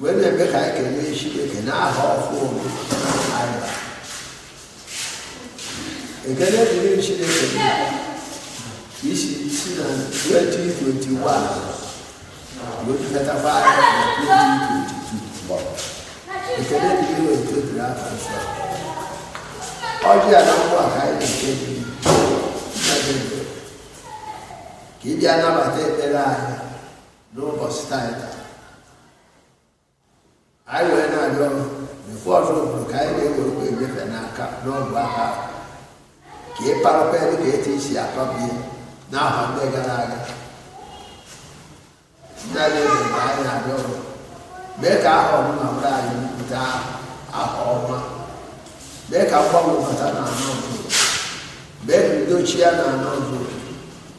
wee na-eme ka anyị kelee Chineke n'aha ọhụụ anyị bara. ekele dịrị Chineke ka i si si na 2021 wee dugatakwa anyị na 2022 ekele dịrị otito dịrị aha nsọ ọjị a na mgbe a ka anyị na-eke gị nna gị ekele. ka ị bịa nabata ekpere anyị n'ụbọchị taata anyị wee na-arịọ mfe ọzọ obodo ka anyị na-ewerekwa enyefe n'aka n'ọbụ aka ka ị parakwa ebe ka etu i si akọbie n'ahọ ndị gara aga ndị anyị ebe ka anyị na-arịọ ọrụ mee ka aha ọbụla bụrụ anyị mpụta aha ọma mee ka mgbanwe bata na anọ mee ka udo chịa na anọ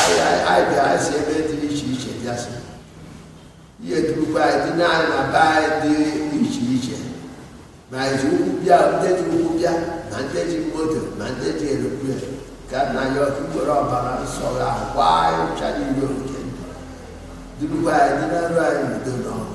anyị anyị- anyị bịa anyị si ebe dị iche iche bịa sị ya durukwa anyị duna anyị na be anyị dị iche iche ma anyị ji ụkwụ bịa ndị ji ụkwụ bịa ma ndị ji moto ma ndị ji eroplane ka nna anyị ukwu were ọbara nsọ ya kwaa anyị ụcha niile oke durukwa anyị dunaruo anyị n'udo na ọṅụ